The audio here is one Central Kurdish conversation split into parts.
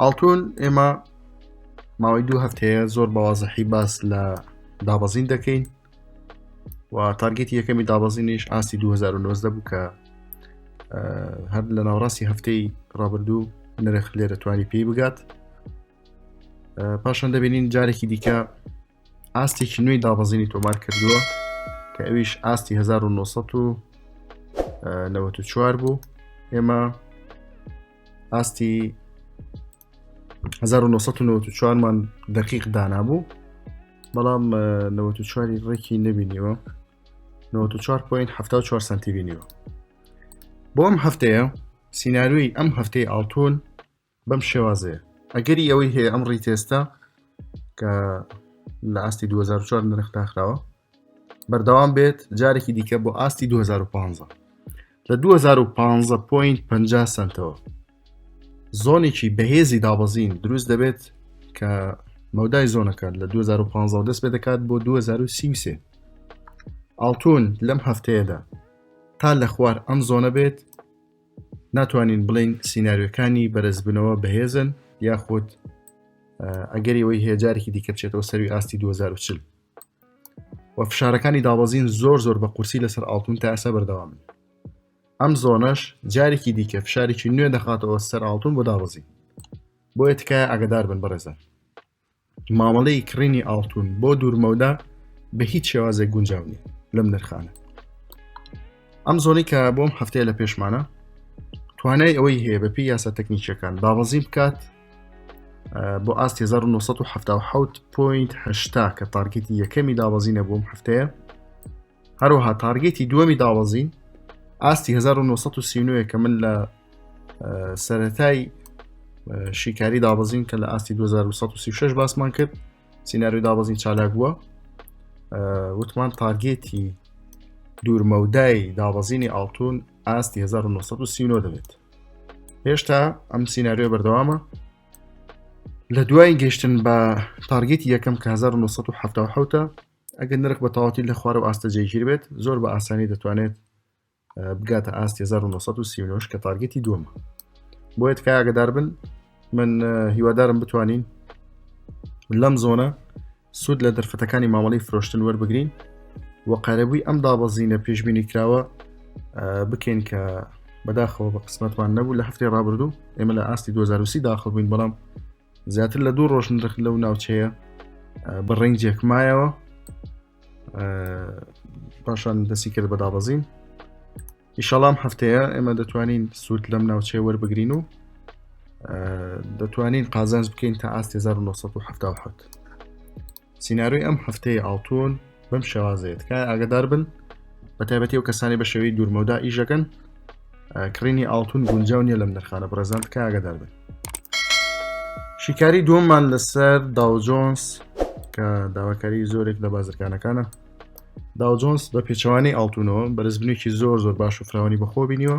ئاڵتون ئێمە ماوەی دوو هەفتەیە زۆر بەوازەحی باس لە دابەزین دەکەین و تارگەتی یەکەمی دابەزینیش ئاستی 2009 بوو کە هەر لە ناوڕاستی هەفتەی ڕابردوو نرخ لێرە توانی پێی بگات پاشان دەبینین جارێکی دیکە ئاستێکی نوێی دابەزینی تۆمار کردووە کە ئەویش ئاستی 1994 بوو ئێمە ئاستی 1994 مان دقیق دانابوو بەڵام 94 ڕێکی نبینیوە 94.74 سنتی بینیوە بۆم هەفتەیە سینناروی ئەم هەفتەی ئاڵتون بەم شێوازەیە ئەگەری ئەوەی هەیە ئەم ڕیتێستە کە لە ئاستی 2004 نرخ داخراوە بەردەوام بێت جارێکی دیکە بۆ ئاستی 2015 لە 2015 پوین 50 سنتەوە زۆنێکی بەهێزی دابەزین دروست دەبێت کە مەودای زۆنەکە لە 2015 دەست پێ دەکات بۆ 2023 ئاڵتون لەم هەفتەیەدا تا لە خوار ئەم زۆنە بێت ناتوانین بڵین سینناریۆکانی بەرزبنەوە بەهێزن یاخود ئەگەری ئەوەی هەیە جارێکی دیکە بچێتەوە سەروی ئاستی 2040 و فشارەکانی دابەزین زۆر زۆر بە قورسی لەسەر ئاڵتون تا ئەسە بەردەوامن ئەم زۆنەش جارێکی دیکە فشارێکی نوێ دەخاتەوە سەر ئاڵتون بۆ دابەزین بۆیە تکایە ئەگەدار بن بەڕێزان مامەڵەی کڕینی ئاڵتون بۆ دوورمەودا بە هیچ شێوازێک گونجاو نیە لەم نرخانە ئەم زۆنی کە بۆم هەفتەیە لە پێشمانە توانای ئەوەی هەیە بە پێی یاسا تەکنیکیەکان دابەزی بکات بۆ ئاست 1970 پوینت هشتا کە تارگەتی یەکەمی دابەزینە بۆم هەفتەیە هەروەها تارگێتی دووەمی داوەزین ئاستی 1939 کە من لە سەتای شیکاری دابەزین کە لە ئاستی 2136 باسمان کرد سینناروی دابەزین چالاک بووە وتمان تارگێتی دوورمەودای دابەزینی ئاڵتون ئاستی 1939 دەبێت هێشتا ئەم سینناریۆ بەردەوامە لە دوای گەشتن بە تارگێتی یەکەم کە 1970 ئەگەر نرخ بە تەواوەتی لە خوارەوە ئاستە جێگیر بێت زۆر بە ئاسانی دەتوانێت بگاتە ئاستی 1939 کە تارگەتی دووەمە بۆیە تکایگەدار بن من هیوادارم بتوانین لەم زۆنە سوود لە دەرفەتەکانی مامەڵی فرۆشتن وەربگرین و قەرەبووی ئەم دابەزینە پێشببینی کراوە بکەین کە بەداخەوە بە قسمەتمان نەبوو لە هەفتی ڕابردوو ئێمە لە ئاستی 2020 داخڵ بووین بەڵام زیاتر لە دوو ڕۆژ نرخ لەو ناوچەیە بە ڕنجێک مایەوە پاشان دەسی کرد بە دابەزین ئیشەڵام هەفتەیە ئێمە دەتوانین سوود لەم ناوچەیە وەربگرین و دەتوانین قازانج بکەین تا ئاست 1970. سینارۆی ئەم هەفتەیە ئاڵتون بەم شێوازەیە تکای ئاگدار بن بە تایبەتی و کەسانی بە شێوەی دوورمەودا ئیشەکەن کڕینی ئاڵتون گونجاو نیە لەم نرخانە بڕێزان تکای ئاگدار بن شیکاری دووەممان لەسەر داوجۆنس کە داواکاری زۆرێک لە بازرگانەکانە داوجۆنس بە پێچوانی ئاڵتونەوە بەرزبنێکی زۆر زۆر باش و فراوانی بەخۆ بینیوە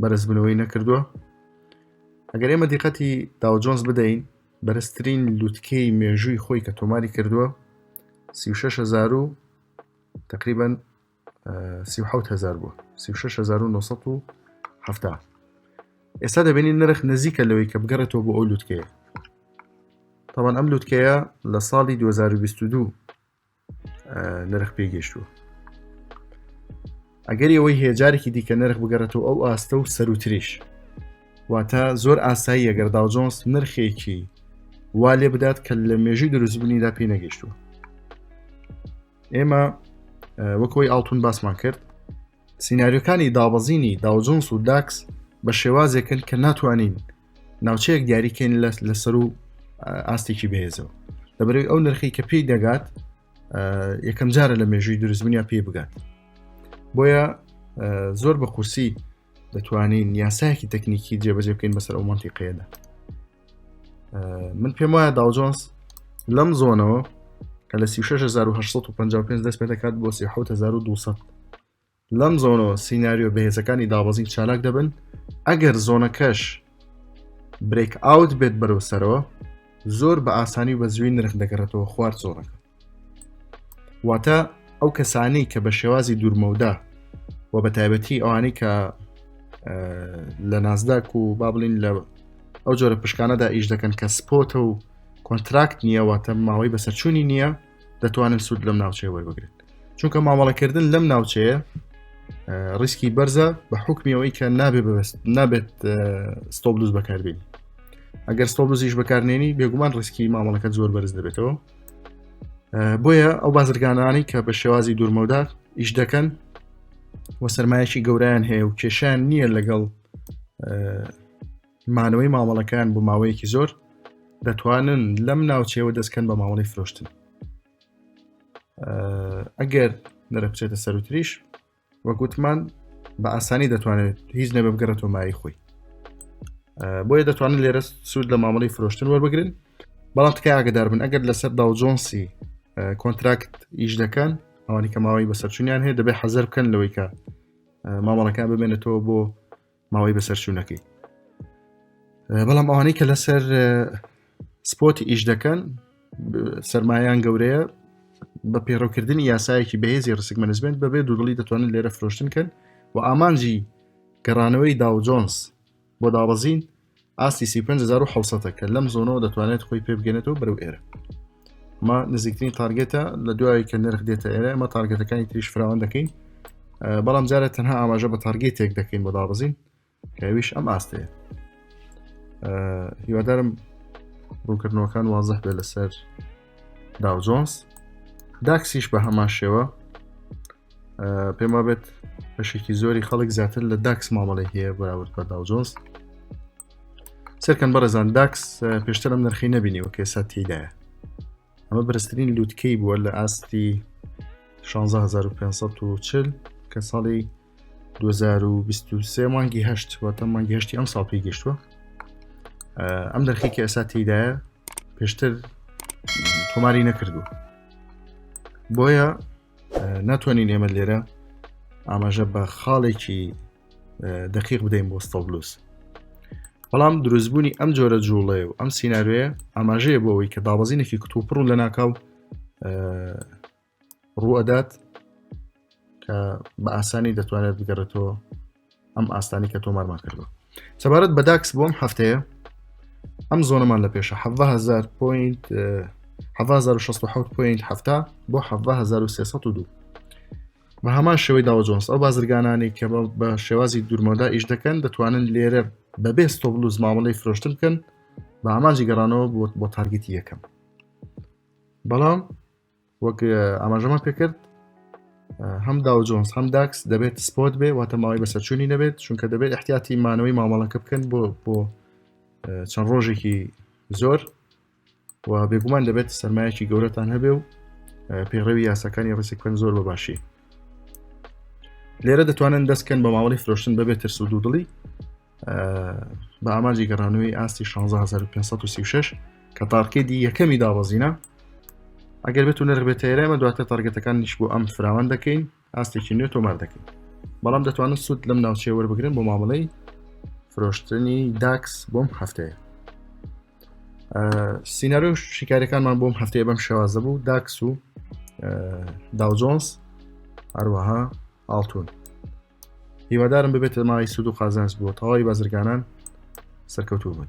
بەرزبوونەوەی نەکردووە ئەگەر ئێمە دیقەتی داوجۆنز بدەین بەرزترین لوتکەی مێژووی خۆی کە تۆماری کردووە 36هزار و تقریبان 1970 بوو 1970 ئێستا دەبینین نرخ نزیکە لەوەی کە بگەڕێتەوە بۆ ئەو لوتکەیە تاوان ئەم لوتکەیە لە ساڵی 2022 نرخ پێ گەشتووە ئەگەر ئەوەی هێجارێکی دیکە نرخ بگەڕێتەوە ئەو ئاستە و سەروتریش واتە زۆر ئاسایی ئەگەر داوجۆنس نرخێکی وا لێ بدات کە لە مێژوی دروستبوونیدا پێی نەگەشتووە ئێمە وەکەوەی ئاڵتون باسمان کرد سینناریۆکانی دابەزینی داوجۆنس و داکس بە شێوازێکن کە ناتوانین ناوچەیەک دیاریکەین لەسەر و ئاستێکی بەهێزەوە لەبەرەوەی ئەو نرخی کە پێی دەگات یەکەم جارە لە مێژووی دروستبنیا پێی بگات بۆیە زۆر بە قورسی دەتوانین یاسایەکی تەکنیکی جێبەجێ بکەین بەسەر ئەو منتیقەیەدا من پێم وایە داوجۆنس لەم زۆنەوە کە لە 1950 دەست پێ دەکات بۆ 1970 لەم زۆنەوە سیناریۆ بەهێزەکانی دابەزین چالاک دەبن ئەگەر زۆنەکەش برێک ئاوت بێت بەرەو سەرەوە زۆر بە ئاسانی و بە زووی نرخ دەگەڕێتەوە خوارد زۆنەکە واتە ئەو کەسانی کە بە شێوازی دوورمەودا و بە تایبەتی ئەوانەی کە لە نازداک و با بڵین لە ئەو جۆرە پشکانەدا ئیش دەکەن کە سپۆتە و کۆنتراکت نییە واتە ماوەی بەسەرچوونی نییە دەتوانن سوود لەم ناوچەیە وەربگرن چونکە مامەڵەکردن لەم ناوچەیە ڕیسکی بەرزە بە حکمیەوەی کە نابێ بەست نابێت ستۆبلوز بەکاربین ئەگەر ستۆبلوزیش بەکارنێنی بێگومان ڕسکی مامەڵەکە زۆر بەرز دەبێتەوە بۆیە ئەو بازرگانانی کە بە شێوازی دوورمەودا ئیش دەکەن و سرمایەکی گەورەیان هەیە و کێشیان نییە لەگەڵ مانەوەی مامەڵەکەیان بۆ ماوەیەکی زۆر دەتوانن لەم ناوچەیەوە دەستکەن بە مامەڵی فرۆشتن ئەگەر نرە بچێتە سەروتریش وەگوتمان بە ئاسانی دەتوانێت هیچ نەبە بگەڕێتەوە مای خۆی بۆیە دەتوانن لێرە سوود لە مامەڵی فرۆشتن وەربگرن بەڵام تکای ئاگدار بن ئەگەر لەسەر داوجۆنسی کۆنتراکت ئیش دەکەن ئەوانی کە ماوەی بەسەرچونیان هەیە دەبێت حەزەر بکەن لەوەی کە مامەڵەکان ببێنێتەوە بۆ ماوەی بەسەرچوونەکەی بەڵام ئەوانەی کە لەسەر سپۆتی ئیش دەکەن سرمایان گەورەیە بە پێڕەوکردنی یاسایەکی بەهێزی ڕسک مەنزمنت بەبێ دوودڵی دەتوانن لێرە فرۆشتن کەن و ئامانجی گەڕانەوەی داو جۆنس بۆ دابەزین ئاستی سی و پێنج هەزار و حەوت سەدە کە لەم زۆنەوە دەتوانێت خۆی پێ بگەنێتەوە بەرەو ئێرە ما نزیکترین تارگێتە لە دوای کە نرخ دێتە ئێرە ئەمە تارگێتەکانی تریش فراوان دەکەین بەڵام جارە تەنها ئاماژە بە تارگێتێک دەکەین بۆ دابزین کەویش ئەم ئاستەیە هیوادارم ڕوونکردنەوەکان وازح بێ لەسەر داو جۆنس داکسیش بە هەمان شێوە پێم وابێت بەشێکی زۆری خەڵک زیاتر لە داکس مامەڵی هەیە بەراورد بە داوجۆنس سەرکەن بەڕێزان داکس پێشتر ئەم نرخی نبینیوە کە ئێستا تێدایە ئەمە بەرزترین لووتکەی بووە لە ئاستی 16,540 کە ساڵی 2023 مانگی هەشت واتە مانگی هەشتی ئەم ساڵ پێی گەشتووە ئەم دەرخێکی ئەسا تێدایە پێشتر تۆماری نەکردو بۆیە ناتوانین ئێمە لێرە ئاماژە بە خاڵێکی دقیق بدەین بۆ ستەبلوس بەڵام دروستبوونی ئەم جۆرە جوڵێ و ئەم سینناروێ ئاماژەیە بۆ ئەوی کە دابەزینێکی کتوپڕ و لە ناکاو ڕوئەدات کە بە ئاسانی دەتوانێت بگەڕێتەوە ئەم ئاستانی کە تۆمارمان کردو سەبارەت بە داکس بۆم هەفتەیە ئەم زۆنەمان لە پێشە هزار پوینت 1600 پوینت هەفتا بۆ 1970 بە هەمان شێوەی داوە جۆنس ئەو بازرگانانی کە بە شێوازی دوورمەدا ئیش دەکەن دەتوانن لێرە بەبێ ستۆبلوز مامەڵی فرۆشتن بکەن بە ئامانجی گەڕانەوە بۆ بۆ تارگەتی یەکەم بەڵام وەک ئاماژەمان پێکرد هەم داو جۆنس هەم داکس دەبێت سپۆت بێ واتە ماوەی بەسەرچوونی نەبێت چونکە دەبێت احتیاتی مانەوەی مامەڵەکە بکەن بۆ بۆ چەند ڕۆژێکی زۆر و بێگومان دەبێت سەرمایەکی گەورەتان هەبێ و پێڕەوی یاساکانی ڕسک بکەن زۆر بە باشی لێرە دەتوانن دەستکەن بە ماوەی فرۆشتن بەبێت ترس و دوودڵی بە ئاماجی گەڕانەوەی ئاستی 16536 کە تارکێدی یەکەمی دابەزینە ئەگەر بێت و نرخبێت ئێرەمە دواتر تارگەتەکان نیش بۆ ئەم فراوان دەکەین ئاستێکی نوێ تۆمار دەکەین بەڵام دەتوانن سوود لەم ناوچێ وەربگرن بۆ مامەڵەی فرۆشتنی داکس بۆم هەفتەیە سینناەر و شیکارەکانمان بۆم هەفتەیە بەم شێوازە بوو داکس و داوجۆنس هەروەها ئاڵتون هیوادارم ببێتە مای سود و قازانس بۆ تەواوی بازرگانان سەرکەوتوو بن